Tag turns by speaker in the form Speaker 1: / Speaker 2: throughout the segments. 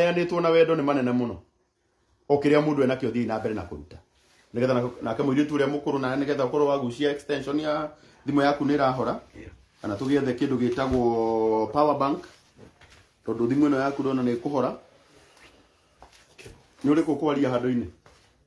Speaker 1: maheanĩtwo na wendo nĩ manene mũno o kĩrĩa mũndũ enakĩo thiĩ na mbere na kũruta nĩgetha na- nake mũirĩtu ũrĩa mũkũrũ nawe nĩgetha ũkorwo wagucia extension ya thimũ yaku nĩ ĩrahora kana tũgĩethe kĩndũ gĩtagwo power bank tondũ thimũ ĩno yaku ndona nĩ ĩkũhora nĩ ũrĩkũ kwaria handũ-inĩ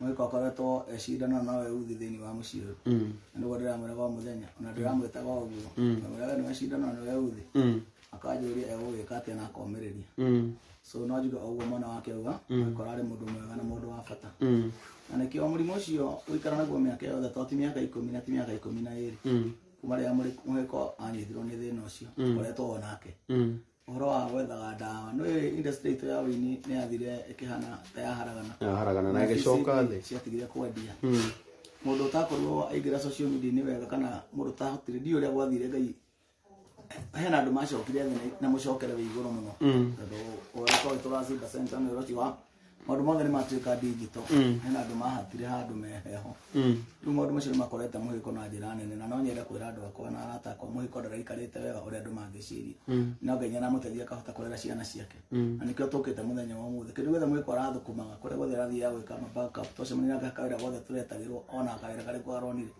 Speaker 2: mũgĩka ũkoretwo ecindana na we uthi thĩinĩ wa mũciĩ ũyũ Mm. na nĩguo ndĩramwĩraga o mũthenya ona ndĩramwĩtaga o ũguo Mm. mwĩraga we nĩwecindana na we uthi Mm. akanjũria egũgĩka atĩa na akomĩrĩria Mm. so no njuge o ũguo mwana wake auga mũgĩkora arĩ mũndũ mwega na mũndũ wa bata Mm. na nĩkĩo mũrimũ ũcio gũikara naguo mĩaka yothe to ti mĩaka ikũmi na ti mĩaka ikũmi na ĩrĩ Mm. kuma rĩrĩa mũgĩko anyitirwo nĩ thĩna ũcio ũkoretwo o nake Mm. ũhoro wa gwethaga ndawa no ĩyo industry itũ ya ũini nĩ yathire ĩkĩhana ta yaharagana yaharagana na ĩgĩcoka
Speaker 1: thĩ ciatigire kwendia
Speaker 2: hmm. mũndũ ũtakorirwo aingĩra social media nĩ wega kana mũndũ ũtahotire ndiũ ũrĩa gwathire ngai hena andũ macokire thĩ na mũcokere wĩ igũrũ mũno hmm. tondũ ũrĩa tũracimba center nĩ ũrĩa wa maũndũ mothe nĩ matuĩka ndigito Mm. hena andũ mahatire handũ meheho Mm. rĩu maũndũ macio nĩ makorete mũhĩko na njĩra nene na no nyende kwĩra andũ akwa na arata akwa mũhĩko ndaraikarĩte wega ũrĩa andũ mangĩciria Mm. no ngai nĩ aramũteithia akahota kũrera ciana ciake Mm. na nĩkĩo tũkĩte mũthenya wa mũthĩ kĩndũ gĩothe mũhĩko arathũkũmaga kũrĩa guothe arathiaga gwĩka ma backup twacemania nake akawĩra guothe tũretagĩrwo ona akawĩra karĩ kwa aronire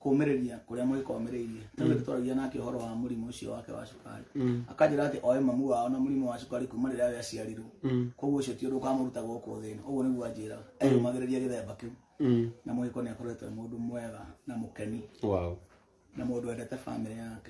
Speaker 2: kũmĩrĩria kũrĩa mũgĩkomĩrĩirie ta rĩu twaragia nake ũhoro wa mũrimũ ũcio wake wa cukari akanjĩra atĩ oĩ mamu wao na mũrimũ wa cukari kuma rĩrĩa we aciarirwo koguo ũcio ti ũndũ ũkamũruta gũkũ thĩ ĩno ũguo nĩguo anjĩraga eyũmagĩrĩria gĩthemba kĩu na mũgĩko nĩ akoretwo e mũndũ mwega na mũkeni wow na mũndũ wendete bamĩrĩ yake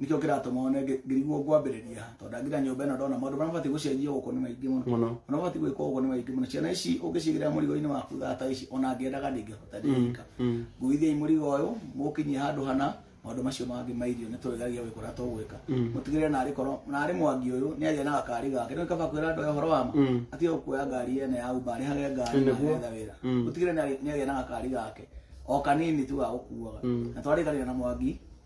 Speaker 2: nikio kiratuma one ngirigwo ngwambiriria tondu ndangira nyumba ino ndona maundu maria mabati gucenjio guku ni maingi muno Mũno. ona mabati gwikwo guku ni maingi muno ciana ici ungicigira murigo-ini waku thata ici ona ngiendaga ndingihota ndingika Mm. nguithiai murigo uyu mukinyie handu hana maundu macio mangi ma irio ni turigagia wikura tugwika Mm. mutigirire nari korwo nari mwangi uyu ni agia na gakari gake ni kaba kwira andu horo wama Mm. atige kuoya ngari ene ya uba ari hage ngari Nĩ na guo. etha wira Mm. mutigirire ni agia na gakari gake o kanini tu gagukuaga Mm. na twarikania na mwangi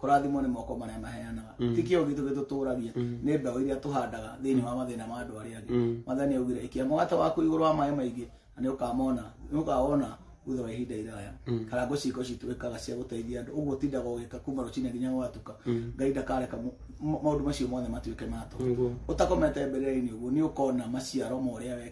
Speaker 2: kũrathimwo nĩ moko marĩa maheanaga ti kĩo gitũ gĩtũtũragia nĩ mbeũ iria tũhandaga thĩinĩ wa mathĩna ma andũ arĩa angĩ mwathani augire ikia mũgate waku igũrũ wa maĩ maingĩ na nĩ ũkamona nĩ ũkawona thutha wa ihinda iraya kana ngũ ciitũ cituĩkaga cia gũteithia andũ ũguo tindaga ũgĩka kuma rũcinĩ nginya gwatuka ngai ndakareka mu- ma- maũndũ macio mothe matuĩke matũ Nĩguo. ũtakomete mbere-inĩ ũguo nĩ ũkona maciaro ma ũrĩa wekĩte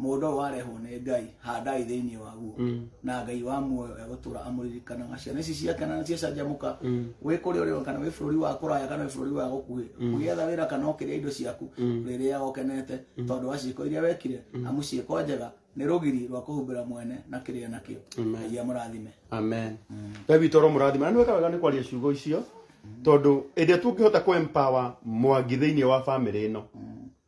Speaker 2: mũndũ ũyũ warehwo nĩ ngai handai thĩinĩ waguo Mm. na ngai wa muoyo egũtũra amũririkanaga ciana ici ciake na ciacanjamũka Mm. wĩ kũrĩa ũrĩ kana wĩ bũrũri wa kũraya kana wĩ bũrũri wa gũkuhĩ ũgĩetha wĩra kana ũkĩrĩa indo ciaku rĩrĩa ũkenete tondũ wa ciĩko iria wekire amu ciĩko njega nĩ rũgiri rwa kũhumbĩra mwene na kĩrĩa nakĩo Amen. ngai amũrathime amen
Speaker 1: we witå oro må rathima na nä weka wega nä kwaria ciugo icio tondå ä ndä a tå ngä hota kå mwangi thä inä wa bamä rä ä no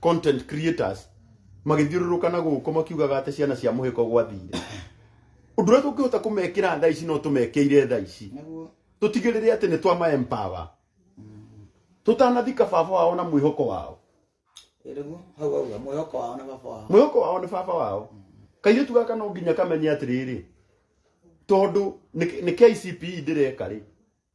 Speaker 1: content creators magĩthiũrũrũka na gũkũ makiugaga atĩ ciana cia mũhĩko gwathire ũndũ ũrĩa tũngĩhota kũmekĩra thaa ici no tũmekĩire thaa ici nĩguo tũtigĩrĩre atĩ nĩ twama empower tũtanathika baba wao na mwĩhoko wao nĩguo
Speaker 2: hau hau hau, mwĩhoko wao na baba wao mwĩhoko wao nĩ baba wao
Speaker 1: kairĩtu gaka no nginya kamenye atĩrĩrĩ tondũ nĩ nĩ KCPE ndĩreka rĩ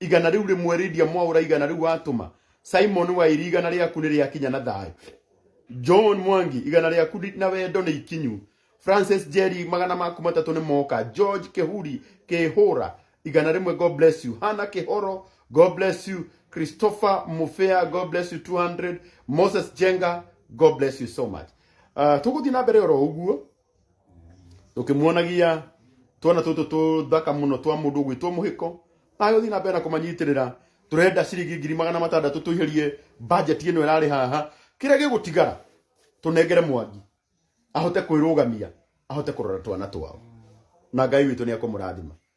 Speaker 1: igana rĩu rĩmwe rĩndia mwaũra igana rĩu watũma simon wairi igana rĩaku nĩ rĩakinya na thayũ john mwangi igana rĩaku ndi- na wendo nĩ ikinyu francis jerry magana maku matatũ nĩ moka george kĩhuri kĩhũra igana rĩmwe god bless you hana kĩhoro god bless you christopher mufea god bless you 200 moses jenga god bless you so much uh, tũgũthiĩ na mbere oro ũguo tukimuonagia twana tutu tuthaka muno twa mundu gwitwo muhiko ayo thina mbere na kumanyitirira turenda ciringi ngiri magana matandatu tuihirie budget ino irari haha kiria gigutigara tunengere mwangi ahote kwirugamia ahote kurora twana twao na ngai witå nä ekå må rathima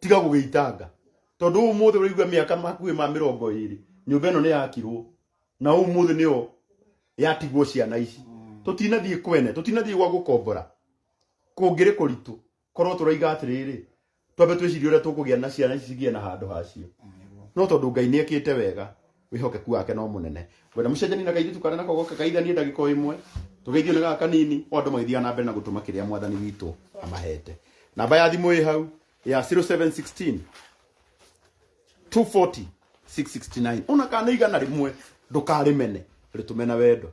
Speaker 1: tiga gũgĩitanga tondũ ũmũthĩ ũraigua mĩaka makuĩ ma mĩrongo ĩrĩ nyũmba ĩno nĩ yakirwo na ũmũthĩ nĩyo yatigwo ciana ici tũtinathiĩ kwene tũtinathiĩ gwa gũkombora kũngĩrĩ kũritũ korwo tũraiga atĩrĩrĩ twambe twĩcirie ũrĩa tũkũgĩa na ciana ici cigĩe na handũ hacio no tondũ ngai nĩ ekĩte wega wĩhokeku wake no mũnene wena mũcenjani na kairitu karĩa nako goke kaithanie ndagĩka o ĩmwe tũgeithio nĩ gaka kanini o andũ magĩthiaga na mbere na gũtũma kĩrĩa mwathani witũ amahete namba ya thimũ ĩ hau ya 0716 240 669 ona kana igana rĩmwe ndũkarĩmene rĩtũme na wendo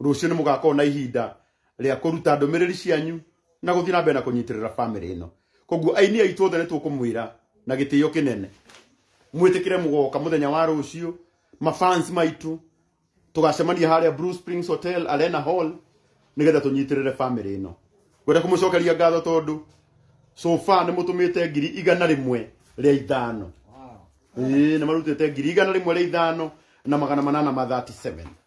Speaker 1: rũciũ nĩ mũgakorwo na ihinda rĩa kũruta ndũmĩrĩri cianyu na gũthiĩ na mbere na kũnyitĩrĩra bamĩrĩ ĩno koguo aini aitũ othe nĩ tũkũmwĩra na gĩtĩo kĩnene mwĩtĩkĩre mũgoka mũthenya wa rũciũ mafans maitũ tũgacemania harĩa Blue Springs Hotel Arena Hall nĩgetha tũnyitĩrĩre bamĩrĩ ĩno ngwenda kũmũcokeria ngatho tondũ so far nĩ mũtũmĩte ngiri igana rĩmwe rĩa ithano ĩĩ nĩ marutĩte ngiri igana rĩmwe rĩa ithano na magana manana ma 37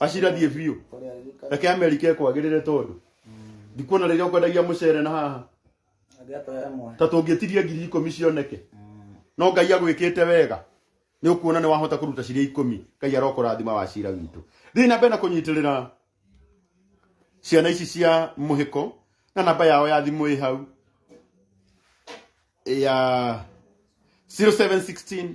Speaker 1: acira thiĩ biũ reke amerika ĩkwagĩrĩre tondũ ndikuona rĩrĩa ũkwendagia mũcere na haha ta tũngĩtirie ngiri ikũmi cioneke no ngai agwĩkĩte wega nĩ ũkuona nĩ wahota kũruta ciria ikũmi ngai arokũrathima wa cira witũ thiĩ na mbere na kũnyitĩrĩra ciana ici cia mũhĩko na namba yao ya thimũ ĩ hau ya 0716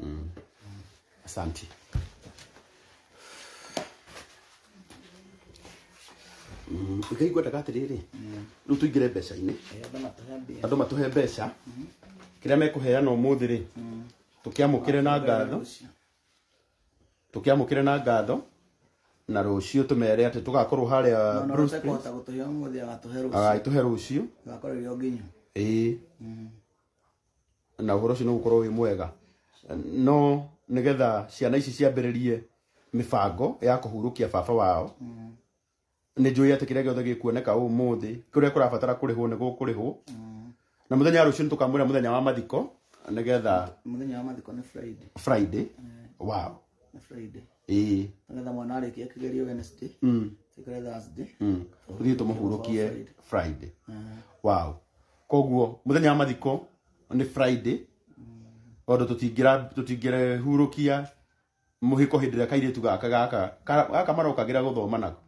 Speaker 2: Mm.
Speaker 1: Asante. Mm, Ngai ngwendaga atĩrĩrĩ rĩu tũingĩre mbeca-inĩ andũ matũhe mbeca kĩrĩa mekũheana ũmũthĩ rĩ tũkĩamũkĩre na ngatho tũkĩamũkĩre na ngatho na rũciũ tũmere atĩ tũgakorwo harĩa Bruce Springs. kũhota gũtũhe ũmũthĩ agatũhe rũciũ agagĩtũhe rũciũ agakorwo ĩrĩ o nginyu
Speaker 2: ĩĩ
Speaker 1: na ũhoro ũcio nĩ gũkorwo wĩ mwega no nĩgetha ciana ici ciambĩrĩrie mĩbango ya kũhurũkia baba wao nĩ njũĩ atĩ kĩrĩa gĩothe gĩkuoneka ũmũthĩ kũrĩa kũrabatara kũrĩhwo nĩ gũkũrĩhwo na mũthenya wa rũciũ nĩ tũkamwĩra mũthenya wa mathiko nĩgetha mũthenya wa mathiko nĩ
Speaker 2: friday friday
Speaker 1: wow
Speaker 2: nĩ friday ĩĩ nĩgetha mwana
Speaker 1: arĩkia kĩgerio
Speaker 2: wednesday mm, tikĩre thursday mm. tũthiĩ
Speaker 1: tũmũhurũkie friday wow koguo muthenya wa mathiko ni friday tondu tutingira tutingirehurukia muhiko hindi ria kairitu gaka gaka ka- gaka marokagira guthoma nako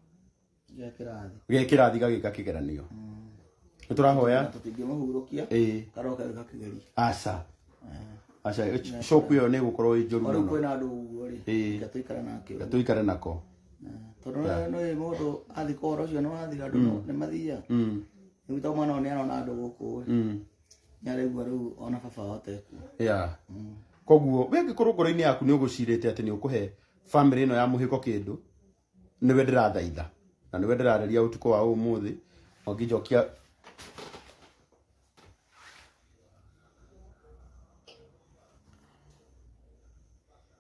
Speaker 1: Gĩa kĩrathi. ge kirathi gagika kigeranio ni turahoya
Speaker 2: Tũtingĩmahurũkia. eh Karoka
Speaker 1: gĩka kĩgeri. asa asa shoku yo ni gukorwo i njoru Ona muno kwĩna andũ ũguo
Speaker 2: rĩ. Ĩĩ. Reke tũikare nake ũguo. tuikare
Speaker 1: nako Tondũ
Speaker 2: nĩ mũndũ athiĩ kũhoro ũcio nĩ wathiga andũ nĩ mathiaga. mm rĩu to mwana ũyũ nĩ arona andũ gũkũ mm. nĩ araigua rĩu ona baba wao tekwo yeah.
Speaker 1: Mm. koguo we ngĩkorwo ngoro-inĩ yaku nĩ ũgũcirĩte atĩ nĩ ũkũhe bamĩrĩ ĩno ya mũhĩko kĩndũ nĩwe ndĩrathaitha na nĩwe ndĩrareria ũtukũ wa ũmũthĩ ongĩnjokia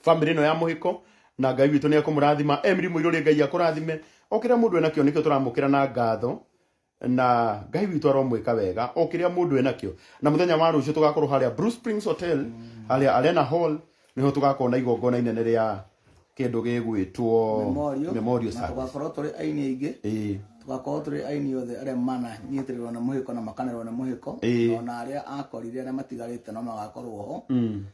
Speaker 1: family ĩno ya mũhiko na ngai witũ nĩ ekũmũrathima emiri mũirũrĩ ngai akũrathime o kĩrĩa mũndũ enakĩo nĩkĩo tũramũkĩra na ngatho na ngai witũ aromwĩka wega o kĩrĩa mũndũ enakĩo na mũthenya wa rũciũ tũgakorwo harĩa Blue Springs Hotel harĩa Arena Hall nĩho tũgakorwo na igongona inene rĩa kĩndũ gĩgwĩtwo Memorial. Memorial Na Service. tũgakorwo tũrĩ aini aingĩ
Speaker 2: Ĩĩ. tũgakorwo tũrĩ aini othe arĩa mananyitĩrĩrwo nĩ mũhĩko na makanerwo nĩ mũhĩko Ĩĩ. na ona arĩa akorire arĩa matigarĩte no magakorwo ho Mm.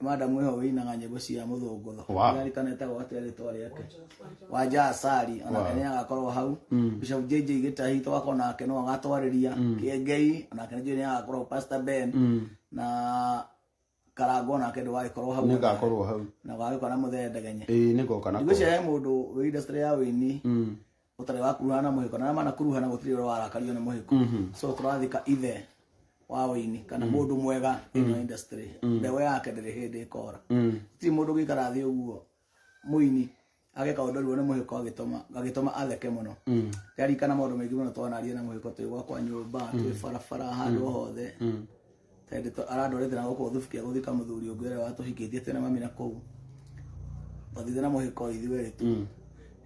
Speaker 2: madam ĩho wĩinaga nyĩmbo cia mũthũngũtho Wow. ararikana etagwo atĩa rĩtwa rĩake wanja asari onake nĩ agakorwo hau bishop jj gĩtahi twakorwo nake no agatwarĩria kĩengei onake nĩ nĩ agakorwo pastor ben na karango nake ndũ wagĩkorwo hau nĩ ngakorwo hau na
Speaker 1: wagĩkorwo na mũthee
Speaker 2: ndegenye ĩĩ nĩ ngoka na ngwĩciria
Speaker 1: he mũndũ wĩ
Speaker 2: industry ya wĩini ũtarĩ wakuruhana na mũhĩko na arĩa manakuruhana gũtirĩ ũrĩa warakario nĩ mũhĩko so tũrathika ithe wa ũini kana mũndũ mwega ĩno industry mbeũ yake ndĩrĩ hĩndĩ ĩkora gũtirĩ mũndũ gĩikara thĩ ũguo mũini ageka ũndũ ruo nĩ mũhĩko agĩtũma agĩtũma atheke mũno ndarikana maũndũ maingĩ mũno twanaria na mũhĩko twĩ gwakwa nyũmba twĩ barabara handũ o hothe tende to arandorete na goko thufu kia guthika muthuri ungi uria watuhikitie tena mami na kuu wathithe na muhiko ithueri tu Mm.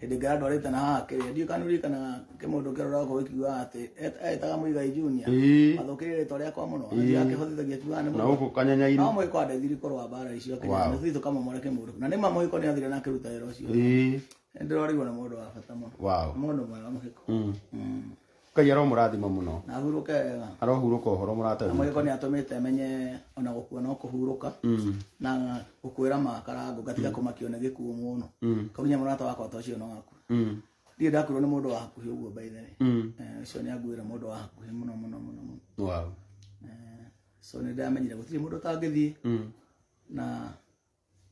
Speaker 2: hindi ngai andorete na haha kiria ndiu kanurikana kimundu kirora ko ikiuga ati etaga muigai junior Ĩĩ. mathukirire ritwa riakwa muno anjia akihotithagia kiuga ni na muno gũkũ kanyanya-inĩ no
Speaker 1: muhiko andethiri kurwa
Speaker 2: mbara icio Wow. kinya nuthu itu kamomore kimundu na nima muhiko ni athire na kiruta wira ucio Ĩĩ. ndirorirwo ni mundu wa bata muno Wow. mundu mwega muhiko Mm. Mm. ngai
Speaker 1: aromũrathima muno na ahurũke wega
Speaker 2: arohurũka ũhoro mũrata
Speaker 1: witũ. mwĩko nĩ atũmĩte
Speaker 2: menye ona gũkua no kũhurũka Mm, na gũkwĩra makarango ngatiga kũmakio nĩ gĩkuũ mũno mm, kaunye mũrata wakwa ta ũcio no waku mm, ndirĩ ndakuirwo nĩ mũndũ wa hakuhĩ ũguo by the way mm. Eh, ũcio nĩ anguĩra mũndũ wa hakuhĩ mũno mũno mũno mũno Wow.
Speaker 1: Eh,
Speaker 2: so nĩ ndamenyire gũtirĩ mũndũ ũtangĩthiĩ Mm, na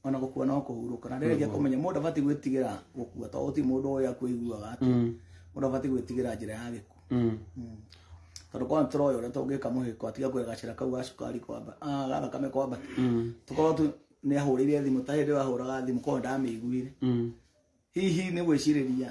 Speaker 2: ona gũkua no kũhurũka na rĩrĩa kũmenya mũndũ abatiĩ gwĩtigĩra gũkua tondũ ti mũndũ ũyũ akwĩiguaga atĩ mm. mũndũ abatiĩ gwĩtigĩra njĩra ya gĩkuũ mm. mm. tondũ kwa tũroya ũrĩa tũngĩka mũhĩko atiga kũrĩa gacĩra kau ga cukari kwamba ah, ga thakame kwamba tũkorwo tu nĩ ahũrĩire thimũ ta hĩndĩ ahũraga thimũ korwo ndamĩiguire hihi nĩ gwĩcirĩria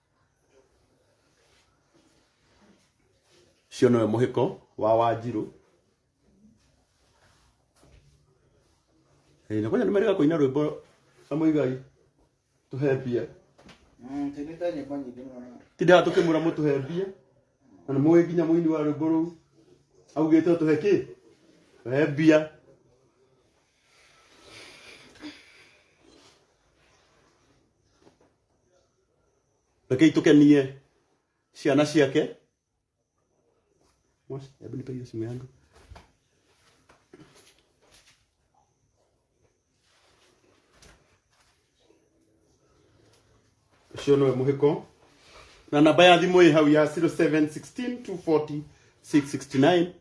Speaker 2: cio nowe mũhĩko wa wanjirũ Ĩĩ, na kwanja nĩ merĩga kũina rwĩmbo na mũigai tũhe mbia Tũinĩte nyĩmbo nyingĩ mũno. tindaga tũkĩmwĩra mũtũhe
Speaker 1: mbia na nĩ mũĩ nginya mũini wa rwĩmbo rũu augĩte ũtũhe kĩ tũhe mbia reke itukenie ciana ciake Mosi, hebu nipe hiyo simu yangu ucio nĩwe mũhĩko na namba ya thimũ ĩ hau ya 0716 240 669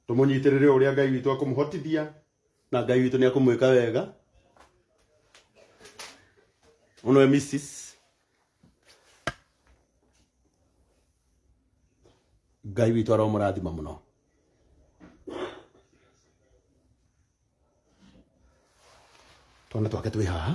Speaker 1: tũmũnyitĩrĩre ũrĩa ngai witũ akũmũhotithia na ngai witũ nĩ akũmwĩka wega ũnwe mrs ngai witũ aromũrathima mũno twana twake twĩ haha